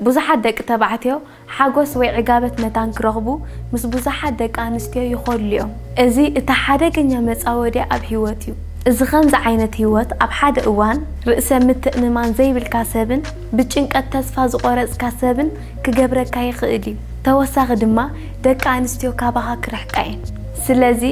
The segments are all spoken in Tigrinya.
ብዙሓት ደቂ ተባዕትዮ ሓጐስ ወይ ዕጋበት መታን ኪረኽቡ ምስ ብዙሓት ደቂ ኣንስትዮ ይኸድሉ እዮም። እዚ እቲ ሓደገኛ መጻወድያ ኣብ ህይወት እዩ። እዚ ኸምዚ ዓይነት ህይወት ኣብ ሓደ እዋን ርእሰ ምትእምማን ዘይብልካ ሰብን ብጭንቀት ተስፋ ዝቖረጽካ ሰብን ኪገብረካ ይኽእል እዩ። ተወሳኺ ድማ ደቂ ኣንስትዮ ካባኻ ኪርሕቃ እየን። ስለዚ።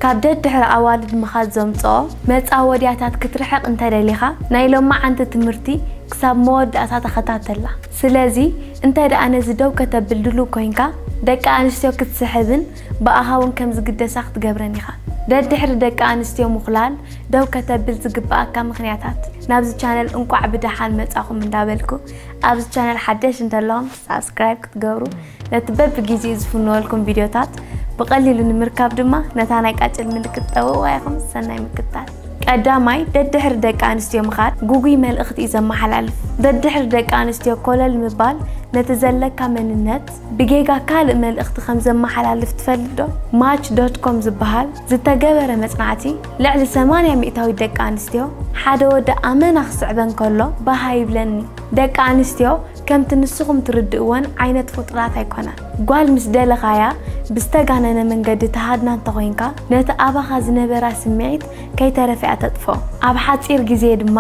ካብ ደድሕሪ ኣዋልድ ምኻድ ዘምጽኦ መጻወድያታት ክትርሕቕ እንተደሊኻ ናይ ሎማዓንቲ ትምህርቲ ክሳብ መወዳእታ ተኸታተላ። ስለዚ እንተድኣ ነዚ ደው ከተብል ድሉው ኮይንካ ደቂ ኣንስትዮ ክትስሕብን ብኣኻ እውን ከም ዝግደሳ ክትገብረን ኢኻ። ደድሕሪ ደቂ ኣንስትዮ ምኹላል ደው ከተብል ዝግብኣካ ምኽንያታት። ናብዚ ቻነል እንቋዕ ብደሓን መጻኹም እንዳበልኩ ኣብዚ ቻነል ሓደሽ እንተለኹም። ሳብስክራይብ ክትገብሩ ነቲ በብጊዜኡ ዝፍነወልኩም ቪድዮታት ብቐሊሉ ንምርካብ ድማ ነታ ናይ ቃጭል ምልክት ጠውቕዋ ኢኹም። ሰናይ ምክትታል። ቀዳማይ፣ ደድሕሪ ደቂ ኣንስትዮ ምኻድ ጉጉይ መልእኽቲ እዩ ዘመሓላልፍ። ደድሕሪ ደቂ ኣንስትዮ ኮለል ምባል ነቲ ዘለካ መንነት ብጌጋ ካልእ መልእኽቲ ከም ዘመሓላልፍ ትፈልጥ ዶ? ማች ዶት ኮም ዝበሃል ዝተገበረ መጽናዕቲ፣ ልዕሊ ሰማንያ ሚእታዊት ደቂ ኣንስትዮ፣ ሓደ ወዲ ኣመና ክስዕበን ከሎ ባህ ኣይብለንን'ዩ። ደቂ ኣንስትዮ ከምቲ ንስኹም ትርድእወን ዓይነት ፍጡራት ኣይኮናን። ጓል ምስ ደለኻያ ብዝተጋነነ መንገዲ ትሃድና እንተኾይንካ፣ ነቲ ኣባኻ ዝነበራ ስምዒት ከይተረፈ'ያ ተጥፍኦ። ኣብ ሓጺር ግዜ ድማ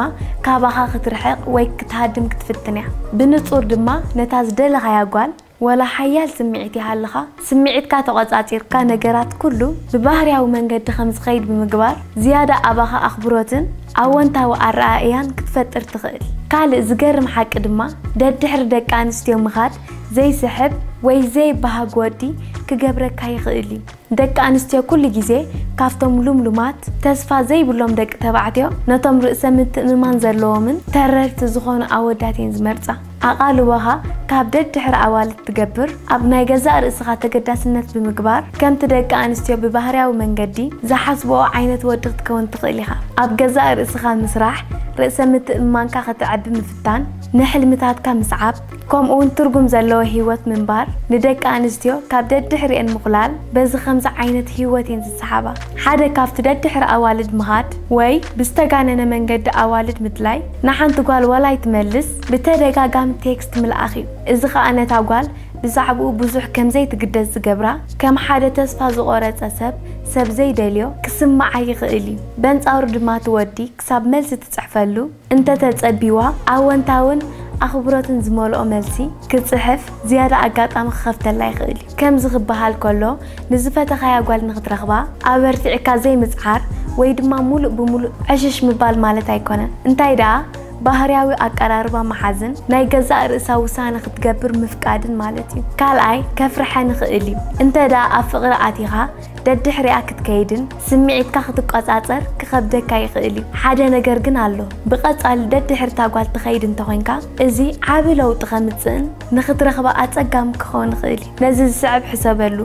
ካባኻ ክትርሕቕ ወይ ክትሃድም ክትፍትን'ያ። ብንጹር ድማ ነታ ዝደለኻያ ጓል፣ ወላ ሓያል ስምዒት ይሃልኻ፣ ስምዒትካ ተቖጻጺርካ ነገራት ኩሉ ብባህርያዊ መንገዲ ከም ዝኸይድ ብምግባር፣ ዝያዳ ኣባኻ ኣኽብሮትን ኣወንታዊ ኣረኣእያን ክትፈጥር ትኽእል። ካልእ ዝገርም ሓቂ ድማ፣ ደድሕሪ ደቂ ኣንስትዮ ምኻድ ዘይስሕብ ወይ ዘይበሃግ ወዲ ክገብረካ ይኽእል እዩ። ደቂ ኣንስትዮ ኩሉ ግዜ ካብቶም ልምሉማት፣ ተስፋ ዘይብሎም ደቂ ተባዕትዮ ነቶም ርእሰ-ምትእምማን ዘለዎምን ተረርቲ ዝዀኑ ኣወዳት እየን ዝመርጻ። ኣቓልቦኻ ካብ ደድሕሪ ኣዋልድ ትገብር፣ ኣብ ናይ ገዛእ ርእስኻ ተገዳስነት ብምግባር፣ ከምቲ ደቂ ኣንስትዮ ብባህርያዊ መንገዲ ዝሓስብኦ ዓይነት ወዲ ክትከውን ትኽእል ኢኻ። ኣብ ገዛእ ርእስኻ ምስራሕ፣ ርእሰ ምትእምማንካ ከተዕቢ ምፍታን፣ ንሕልምታትካ ምስዓብ፣ ከምኡ'ውን ትርጉም ዘለዎ ህይወት ምንባር፣ ንደቂ ኣንስትዮ ካብ ደድሕሪኤን ምዅላል፣ በዚ ከምዚ ዓይነት ህይወት እየን ዝሰሓባ። ሓደ ካብቲ ደድሕሪ ኣዋልድ ምኻድ ወይ ብዝተጋነነ መንገዲ ኣዋልድ ምድላይ፣ ንሓንቲ ጓል ዋላ ኣይትመልስ፣ ብተደጋጋሚ ቴክስት ምልኣኽ እዩ፣ እዚ ኸኣ ነታ ጓል ብዛዕባኡ ብዙሕ ከም ዘይትግደስ ዝገብራ፣ ከም ሓደ ተስፋ ዝቖረጸ ሰብ፣ ሰብ ዘይደልዮ፣ ክስምዓ ይኽእል እዩ። በንጻሩ ድማ እቲ ወዲ ክሳብ መልሲ ትጽሕፈሉ እንተ ተጸብዩዋ፣ ኣወንታውን ኣኽብሮትን ዝመልኦ መልሲ ክትጽሕፍ ዝያዳ ኣጋጣሚ ክኸፍተላ ይኽእል እዩ። ከምዚ ክበሃል ከሎ፣ ንዝፈተኻያ ጓል ንኽትረኽባ ኣበርቲዕካ ዘይምጽዓር ወይ ድማ ምሉእ ብምሉእ ዕሽሽ ምባል ማለት ኣይኰነን። እንታይ ደኣ፣ ባህርያዊ ኣቀራርባ ምሓዝን ናይ ገዛእ ርእሳ ውሳነ ክትገብር ምፍቃድን ማለት እዩ። ካልኣይ፣ ከፍርሐን ይኽእል እዩ። እንተድኣ ኣብ ፍቕሪ ኣቲኻ ደድሕሪኣ ክትከይድን ስምዒትካ ክትቆጻጸር ክኸብደካ ይኽእል እዩ። ሓደ ነገር ግን ኣሎ፣ ብቐጻሊ ደድሕሪ እታ ጓል ትኸይድ እንተኾይንካ፣ እዚ ዓቢ ለውጢ ከምጽእን ንኽትረኽባ ኣጸጋሚ ክኸውን ይኽእል እዩ። ነዚ ዝስዕብ ሕሰበሉ።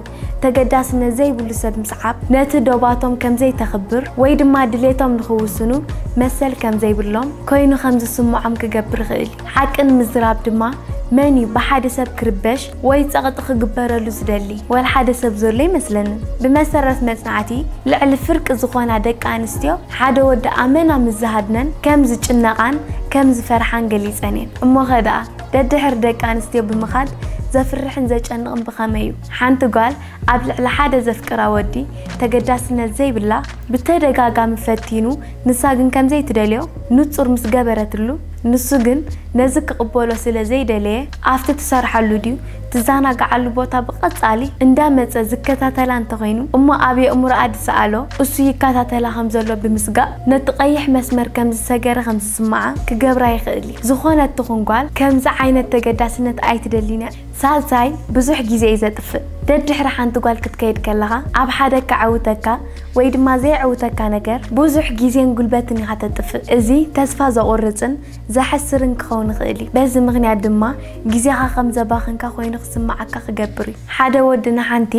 ተገዳስነት ዘይብሉ ሰብ ምስዓብ፣ ነቲ ዶባቶም ከም ዘይተኽብር ወይ ድማ ድሌቶም ንኽውስኑ መሰል ከም ዘይብሎም ኰይኑ ከም ዝስምዖም ክገብር ይኽእል እዩ። ሓቂ ንምዝራብ ድማ፣ መን እዩ ብሓደ ሰብ ክርበሽ ወይ ጸቕጢ ክግበረሉ ዝደሊ? ወላ ሓደ ሰብ ዘሎ ኣይመስለንን። ብመሰረት መጽናዕቲ፣ ልዕሊ ፍርቂ ዝዀና ደቂ ኣንስትዮ ሓደ ወዲ ኣመና ምስ ዝሃድነን ከም ዝጭነቓን ከም ዝፈርሓን ገሊጸን እየን። እሞኸ ደኣ? ደድሕሪ ደቂ ኣንስትዮ ብምኻድ ዘፍርሕን ዘጨንቕን ብኸመይ እዩ? ሓንቲ ጓል ኣብ ልዕሊ ሓደ ዘፍቅራ ወዲ ተገዳስነት ዘይብላ ብተደጋጋሚ ፈቲኑ ንሳ ግን ከምዘይትደልዮ ንጹር ምስ ገበረትሉ ንሱ ግን ነዚ ክቕበሎ ስለ ዘይደለየ ኣብቲ ትሰርሓሉ ድዩ ትዛናግዓሉ ቦታ ብቐጻሊ እንዳመጸ ዝከታተላ እንተኾይኑ እሞ ኣብ የእምሮኣ ድሰኣሎ እሱ ይከታተላ ከምዘሎ ብምስጋእ ነቲ ቀይሕ መስመር ከምዝሰገረ ስማዓ ክገብራ ይክእል እዩ ዝኮነት ትኩን ጓል ከምዚ ዓይነት ተገዳስነት ኣይትደሊን እያ ሳልሳይ ብዙሕ ግዜ እዩ ዘጥፍእ ደድሕሪ ሓንቲ ጓል ክትከይድ ከለካ ኣብ ሓደ ከዐውተካ ወይ ድማ ዘየዕውተካ ነገር ብዙሕ ግዜን ጉልበትን ኢካ ተጥፍእ እዚ ተስፋ ዘቁርጽን ዘሕስርን ክከውን ይክእል እዩ በዚ ምክንያት ድማ ግዜካ ከም ዘባክንካ ኮይኑ ክስማዓካ ክገብር እዩ ሓደ ወዲ ንሓንቲ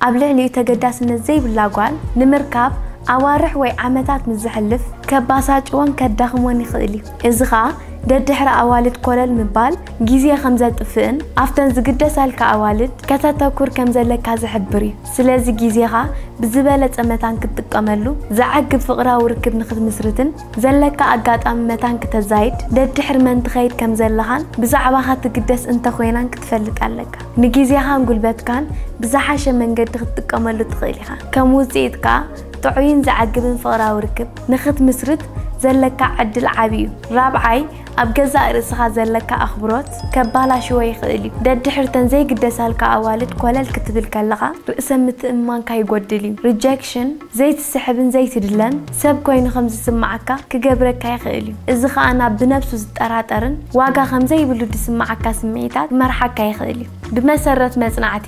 ኣብ ልዕሊኡ ተገዳስነት ዘይብላ ጓል ንምርካብ ኣዋርሕ ወይ ዓመታት ምስ ዘሕልፍ ከባሳጭዎን ከዳኽሞን ይኽእል እዩ። እዚ ኸኣ ደድሕሪ ኣዋልድ ኮለል ምባል ግዜ ከም ዘጥፍእን ኣብተን ዝግደሳልካ ኣዋልድ ከተተኩር ከም ዘለካ ዝሕብር እዩ። ስለዚ ግዜኻ ብዝበለጸ መታን ክትጥቀመሉ፣ ዘዕግብ ፍቕራዊ ርክብ ንኽትምስርትን ዘለካ ኣጋጣሚ መታን ክተዛይድ ደድሕሪ መን ትኸይድ ከም ዘለኻን ብዛዕባኻ ትግደስ እንተ ኾይናን ክትፈልጥ ኣለካ። ንጊዜኻን ጉልበትካን ብዝሓሸ መንገዲ ክትጥቀመሉ ትኽእል ኢኻ። ከም ውጽኢት ከኣ ጥዑይን ዘዕግብን ፍቕራዊ ርክብ ንኽትምስርት ዘለካ ዕድል ዓቢ እዩ። ራብዓይ፣ ኣብ ገዛእ ርእስኻ ዘለካ ኣኽብሮት ከባላሽዎ ይኽእል እዩ። ደድሕርተን ዘይግደሳልካ ኣዋልድ ኮለል ክትብል ከለኻ ርእሰ-ምትእምማንካ ይጎድል እዩ። Rejection፣ ዘይትስሕብን ዘይትድለን ሰብ ኰይኑ ኸም ዚስምዓካ ኪገብረካ ይኽእል እዩ። እዚ ኸኣ ናብ ብነብሱ ዚጠራጠርን ዋጋ ኸም ዘይብሉ ዚስምዓካ ስምዒታት ኪመርሓካ ይኽእል እዩ። ብመሰረት መጽናዕቲ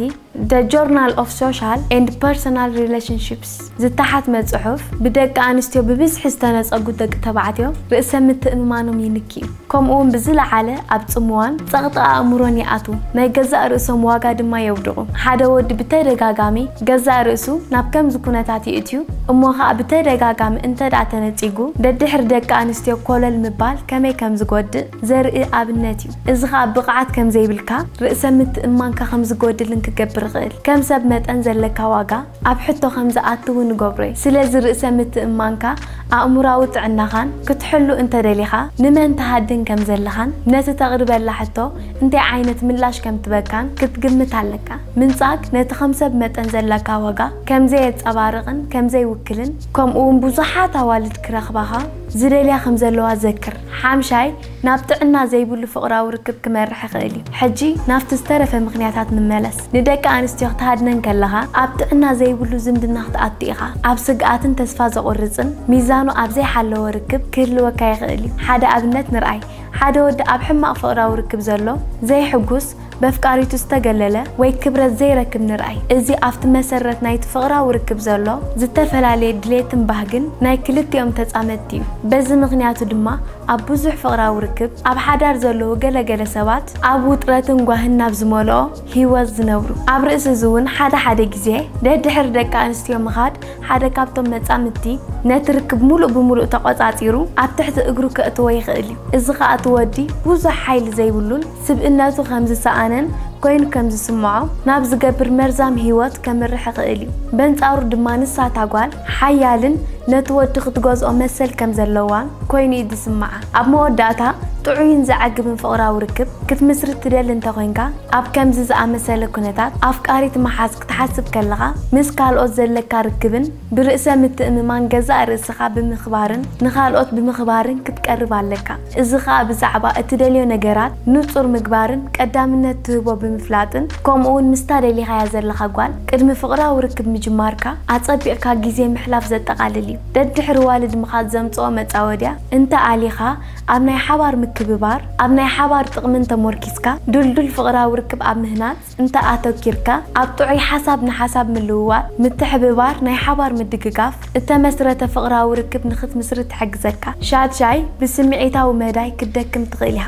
The Journal of Social and Personal Relationships ዝተሓትመ ጽሑፍ፣ ብደቂ ኣንስትዮ ብብዝሒ ዝተነጸጉ ደቂ ተባዕትዮ ርእሰ-ምትእምማኖም ይንኪ እዩ። ከምኡውን ብዝለዓለ ኣብ ጽምዋን ጸቕጢ ኣእምሮን ይኣትዉ፣ ናይ ገዛእ ርእሶም ዋጋ ድማ የውድቑ። ሓደ ወዲ ብተደጋጋሚ ገዛእ ርእሱ ናብ ከምዚ ኩነታት ይእትዩ እሞ ኸኣ ብተደጋጋሚ እንተድኣ ተነጺጉ ደድሕሪ ደቂ ኣንስትዮ ኮለል ምባል ከመይ ከም ዝጎድእ ዘርኢ ኣብነት እዩ። እዚ ኸኣ ብቕዓት ከም ዘይብልካ፣ ርእሰ ምትእምማንካ ከም ዝጎድልን ክገብር ይኽእል። ከም ሰብ መጠን ዘለካ ዋጋ። ኣብ ሕቶ ከም ዝኣትው ንገብሮ'ዩ። ስለዚ ርእሰ ምትእምማንካ፣ ኣእምሮኣዊ ጥዕናኻን ክትሕሉ እንተ ደሊኻ፣ ንመን ትሃድን ከም ዘለኻን ነቲ ተቕርበላ ሕቶ እንታይ ዓይነት ምላሽ ከም ትበካን ክትግምት ኣለካ። ምንጻግ ነቲ ከም ሰብ መጠን ዘለካ ዋጋ ከም ዘየጸባርቕን ከም ዘይውክልን፣ ከምኡ'ውን ብዙሓት ኣዋልድ ክረኽባኻ ዝደልያ ከም ዘለዋ ዘክር። ሓምሻይ፣ ናብ ጥዕና ዘይብሉ ፍቕራዊ ርክብ ክመርሕ ይኽእል እዩ። ሕጂ ናብቲ ዝተረፈ ምኽንያታት ንመለስ። ንደቂ ኣንስትዮ ክትሃድነን ከለኻ፣ ኣብ ጥዕና ዘይብሉ ዝምድና ክትኣቱ ኢኻ። ኣብ ስግኣትን ተስፋ ዘቑርጽን፣ ሚዛኑ ኣብ ዘይሓለወ ርክብ ክህልወካ ይኽእል እዩ። ሓደ ኣብነት ንርኣይ፣ ሓደ ወዲ ኣብ ሕማቕ ፍቕራዊ ርክብ ዘሎ፣ ዘይሕጉስ፣ በፍቃሪቱ ዝተገለለ ወይ ክብረት ዘይረክብ ንርኣይ። እዚ ኣብቲ መሰረት ናይቲ ፍቕራዊ ርክብ ዘሎ ዝተፈላለየ ድሌትን ባህግን ናይ ክልቲኦም ተጻመድቲ እዩ። በዚ ምኽንያቱ ድማ ኣብ ብዙሕ ፍቕራዊ ርክብ ኣብ ሓዳር ዘለዉ ገለ ገለ ሰባት ኣብ ውጥረትን ጓህን ናብ ዝመልኦ ህይወት ዝነብሩ። ኣብ ርእሲ እዚ እውን ሓደ ሓደ ግዜ ደድሕሪ ደቂ ኣንስትዮ ምኻድ ሓደ ካብቶም መጻምድቲ ነቲ ርክብ ምሉእ ብምሉእ ተቖጻጺሩ ኣብ ትሕቲ እግሩ ከእትዎ ይኽእል እዩ። እዚ ከኣ እቲ ወዲ ብዙሕ ሓይሊ ዘይብሉን ስብእነቱ ከም ዝሰኣነን ኮይኑ ከም ዝስምዖ ናብ ዝገብር መርዛም ህይወት ከምርሕ ይኽእል እዩ። በንጻሩ ድማ ንሳ እታ ጓል ሓያልን ነቲ ወዲ ክትገዝኦ መሰል ከም ዘለዋን ኮይኑ እዩ ዝስምዓ። ኣብ መወዳእታ ጥዑይን ዘዕግብን ፍቕራዊ ርክብ ክትምስርት ትደሊ እንተ ኾይንካ፣ ኣብ ከምዚ ዝኣመሰለ ኩነታት ኣፍቃሪት ምሓዝ ክትሓስብ ከለኻ ምስ ካልኦት ዘለካ ርክብን፣ ብርእሰ ምትእምማን ገዛእ ርእስኻ ብምኽባርን ንኻልኦት ብምኽባርን ክትቀርብ ኣለካ። እዚ ኸኣ ብዛዕባ እትደልዮ ነገራት ንጹር ምግባርን ቀዳምነት ትህቦ ብምፍላጥን ከምኡውን ምስታ ደሊኻያ ዘለኻ ጓል ቅድሚ ፍቕራዊ ርክብ ምጅማርካ ኣጸቢቕካ ግዜ ምሕላፍ ዘጠቓልል እዩ። ደድሕሪ ዋልድ ምኻድ ዘምጽኦ መጻወድያ እንተ ኣሊኻ ኣብ ናይ ሓባር ምክብባር ኣብ ናይ ሓባር ጥቕምን ተሞርኪስካ ድልዱል ፍቕራዊ ርክብ ኣብ ምህናጽ እንተ ኣተኪርካ ኣብ ጥዑይ ሓሳብ ንሓሳብ ምልውዋጥ፣ ምትሕብባር፣ ናይ ሓባር ምድግጋፍ እተመስረተ ፍቕራዊ ርክብ ንኽትምስርት ትሕግዘካ። ሻድሻይ፣ ብስምዒታዊ መዳይ ክትደክም ትኽእል ኢኻ።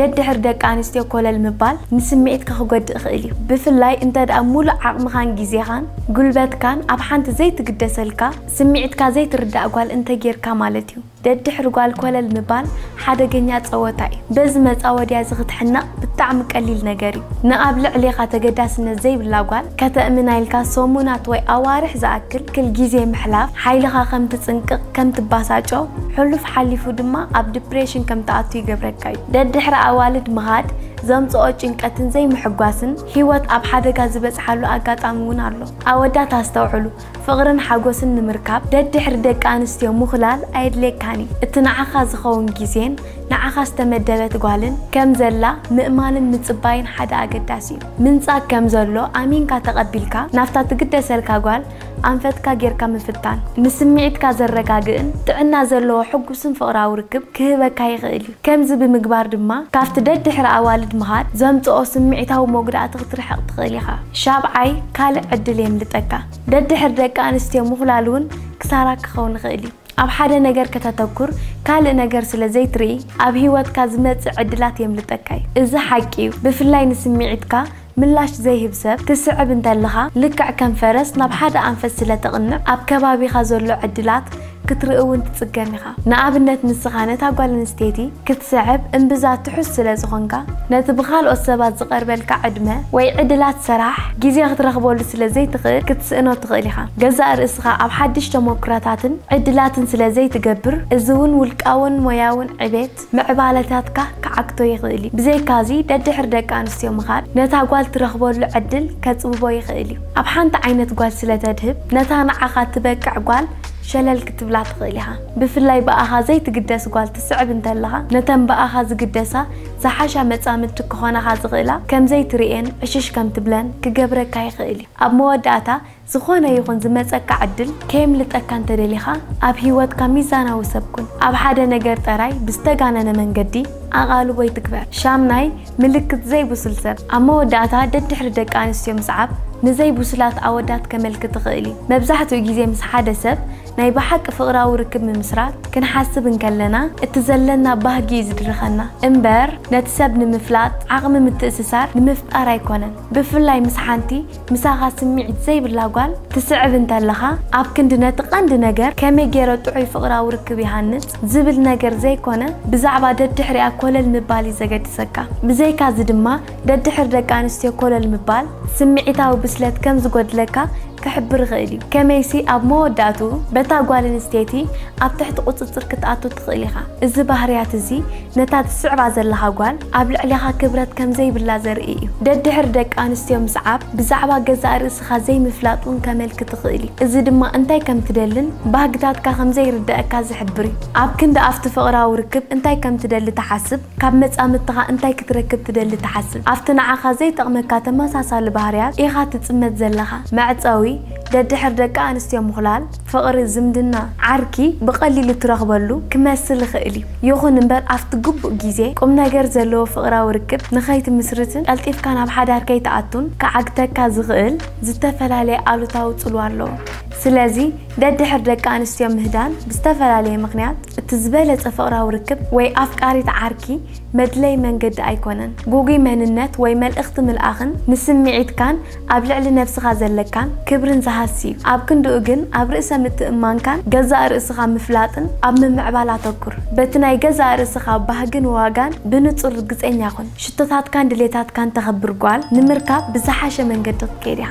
ደድሕሪ ደቂ ኣንስትዮ ኮለል ምባል ንስምዒትካ ክጎድእ ይኽእል እዩ። ብፍላይ እንተድኣ ምሉእ ዓቕምኻን ግዜኻን ጉልበትካን ኣብ ሓንቲ ዘይትግደሰልካ ስምዒትካ ዘይትርዳእ ጓል እንተጌርካ ማለት እዩ። ደድሕሪ ጓል ኮለል ምባል ሓደገኛ ጸወታ እዩ። በዚ መጻወድያ እዚ ክትሕነቕ ብጣዕሚ ቀሊል ነገር እዩ። ንኣብ ልዕሌኻ ተገዳስነት ዘይብላ ጓል ከተእምና ኢልካ ሰሙናት ወይ ኣዋርሕ ዝኣክል ክል ግዜ ምሕላፍ ሓይልኻ ከም ትጽንቅቕ፣ ከም ትባሳጮ፣ ሕሉፍ ሓሊፉ ድማ ኣብ ድፕሬሽን ከም ትኣቱ ይገብረካ እዩ። ደድሕሪ ኣዋልድ ምኻድ ዘምጽኦ ጭንቀትን ዘይምሕጓስን ህይወት ኣብ ሓደጋ ዝበጽሓሉ ኣጋጣሚ እውን ኣሎ። ኣወዳት ኣስተውዕሉ! ፍቕርን ሓጎስን ንምርካብ ደድሕሪ ደቂ ኣንስትዮ ምኹላል ኣየድልየካን እዩ። እቲ ንዓኻ ዝኸውን ግዜን ንዓኻ ዝተመደበት ጓልን ከም ዘላ ምእማንን ምጽባይን ሓደ ኣገዳሲ እዩ። ምንጻግ ከም ዘሎ ኣሚንካ ተቐቢልካ ናብታ ትግደሰልካ ጓል ኣንፈትካ ጌርካ ምፍታን፣ ንስምዒትካ ዘረጋግእን ጥዕና ዘለዎ ሕጉስን ፍቕራዊ ርክብ ክህበካ ይኽእል እዩ። ከምዚ ብምግባር ድማ ካብቲ ደድሕሪ ኣዋልድ ምኻድ ዘምጽኦ ስምዒታዊ መጉዳእቲ ክትርሕቕ ትኽእል ኢኻ። ሻብዓይ፣ ካልእ ዕድል የምልጠካ። ደድሕሪ ደቂ ኣንስትዮ ምኹላል እውን ክሳራ ክኸውን ይኽእል እዩ። ኣብ ሓደ ነገር ከተተኩር ካልእ ነገር ስለ ዘይትርኢ ኣብ ህይወትካ ዝመጽእ ዕድላት የምልጠካ እዩ። እዚ ሓቂ እዩ፣ ብፍላይ ንስምዒትካ ምላሽ ዘይህብ ሰብ ክትስዕብ እንተለኻ ልክዕ ከም ፈረስ ናብ ሓደ ኣንፈት ስለ ተቕንዕ ኣብ ከባቢኻ ዘሎ ዕድላት ክትርኢ እውን ትጽገም ኢኻ። ንኣብነት ንስኻ ነታ ጓል ኣንስተይቲ ክትስዕብ እምብዛ ትሑዝ ስለ ዝኾንካ ነቲ ብኻልኦት ሰባት ዝቐርበልካ ዕድመ ወይ ዕድላት ሰራሕ ግዜ ክትረኽበሉ ስለ ዘይትኽእል ክትስእኖ ትኽእል ኢኻ። ገዛእ ርእስኻ ኣብ ሓድሽ ተሞክሮታትን ዕድላትን ስለ ዘይትገብር እዚ እውን ውልቃውን ሞያውን ዕቤት ምዕባለታትካ ክዓግቶ ይኽእል እዩ። ብዘይካዚ፣ ደድሕሪ ደቂ ኣንስትዮ ምኻድ ነታ ጓል ትረኽበሉ ዕድል ከጽብቦ ይኽእል እዩ። ኣብ ሓንቲ ዓይነት ጓል ስለ ተድህብ፣ ነታ ንዓኻ እትበቅዕ ጓል ሸለል ክትብላ ትኽእል ኢኻ። ብፍላይ ብኣኻ ዘይትግደስ ጓል ትስዕብ እንተለኻ፣ ነተን ብኣኻ ዝግደሳ ዝሓሻ መጻምድቲ ክኾናኻ ዝኽእላ ከም ዘይትርእየን ዕሽሽ ከም ትብለን ክገብረካ ይኽእል እዩ። ኣብ መወዳእታ፣ ዝኾነ ይኹን ዝመጸካ ዕድል ከየምልጠካ እንተደሊኻ፣ ኣብ ህይወትካ ሚዛናዊ ሰብ ኩን። ኣብ ሓደ ነገር ጠራይ ብዝተጋነነ መንገዲ ኣቓልቦ ኣይትግበር። ሻምናይ፣ ምልክት ዘይብሱል ሰብ። ኣብ መወዳእታ ደድሕሪ ደቂ ኣንስትዮ ምስዓብ ንዘይብሱላት ኣወዳት ከመልክት ይኽእል እዩ። መብዛሕትኡ ግዜ ምስ ሓደ ሰብ ናይ ብሓቂ ፍቕራዊ ርክብ ምምስራት ክንሓስብ እንከለና እቲ ዘለና ባህጊ እዩ ዝድርኸና እምበር ነቲ ሰብ ንምፍላጥ ዓቕሚ ምትእስሳር ንምፍጣር ኣይኮነን። ብፍላይ ምስ ሓንቲ ምሳኻ ስምዒት ዘይብላ ጓል ትስዕብ እንተለኻ፣ ኣብ ክንዲ ነቲ ቀንዲ ነገር ከመይ ገይረ ጥዑይ ፍቕራዊ ርክብ ይሃንጽ ዝብል ነገር ዘይኮነ፣ ብዛዕባ ደድሕሪኣ ኮለል ምባል እዩ ዘገድሰካ። ብዘይካዚ ድማ ደድሕሪ ደቂ ኣንስትዮ ኮለል ምባል፣ ስምዒታዊ ብስለት ከም ዝጎድለካ ክሕብር ይኽእል እዩ። ከመይሲ ኣብ መወዳእትኡ በታ ጓል ኣንስተይቲ ኣብ ትሕቲ ቁጽጽር ክትኣቱ ትኽእል ኢኻ። እዚ ባህርያት እዚ ነታ ትስዕባ ዘለኻ ጓል ኣብ ልዕሌኻ ክብረት ከም ዘይብላ ዘርኢ እዩ። ደድሕሪ ደቂ ኣንስትዮ ምስዓብ ብዛዕባ ገዛእ ርእስኻ ዘይምፍላጥ እውን ከመልክት ይኽእል እዩ፣ እዚ ድማ እንታይ ከም ትደልን ባህግታትካ ከም ዘይርደኣካ ዝሕብር እዩ። ኣብ ክንዲ ኣብቲ ፍቕራዊ ርክብ እንታይ ከም ትደሊ ትሓስብ፣ ካብ መጻምድትኻ እንታይ ክትረክብ ትደሊ ትሓስብ። ኣብቲ ንዓኻ ዘይጠቕመካ ተመሳሳሊ ባህርያት ኢኻ ትጽመድ ዘለኻ። መዕጸዊ፣ ደድሕሪ ደቂ ኣንስትዮ ምዅላል። ፍቕሪ ዝምድና ዓርኪ ብቐሊሉ ትረኽበሉ ክመስል ይኽእል እዩ። ይኹን እምበር ኣብቲ ግቡእ ግዜ ቁምነገር ዘለዎ ፍቕራዊ ርክብ ንኸይትምስርትን ቀልጢፍካ ናብ ሓዳር ከይትኣቱን ክዓግተካ ዝኽእል ዝተፈላለየ ኣሉታዊ ጽልዋ ኣለዎ። ስለዚ ደድሕሪ ደቂ ኣንስትዮ ምህዳን ብዝተፈላለየ ምኽንያት እቲ ዝበለጸ ፍቕራዊ ርክብ ወይ ኣፍቃሪት ዓርኪ መድለዪ መንገዲ ኣይኮነን። ግጉይ መንነት ወይ መልእኽቲ ምልኣኽን ንስምዒትካን ኣብ ልዕሊ ነብስኻ ዘለካን ክብርን ዝሃስ'ዩ። ኣብ ክንድኡ ግን ኣብ ርእሰ ምትእምማንካን ገዛእ ርእስኻ ምፍላጥን ኣብ ምምዕባል ኣተኩር። በቲ ናይ ገዛእ ርእስኻ ባህግን ዋጋን ብንጹር ርግጸኛ ኩን። ሽቶታትካን ድሌታትካን ተኽብር ጓል ንምርካብ ብዝሓሸ መንገዲ ክትከይድ ኢኻ።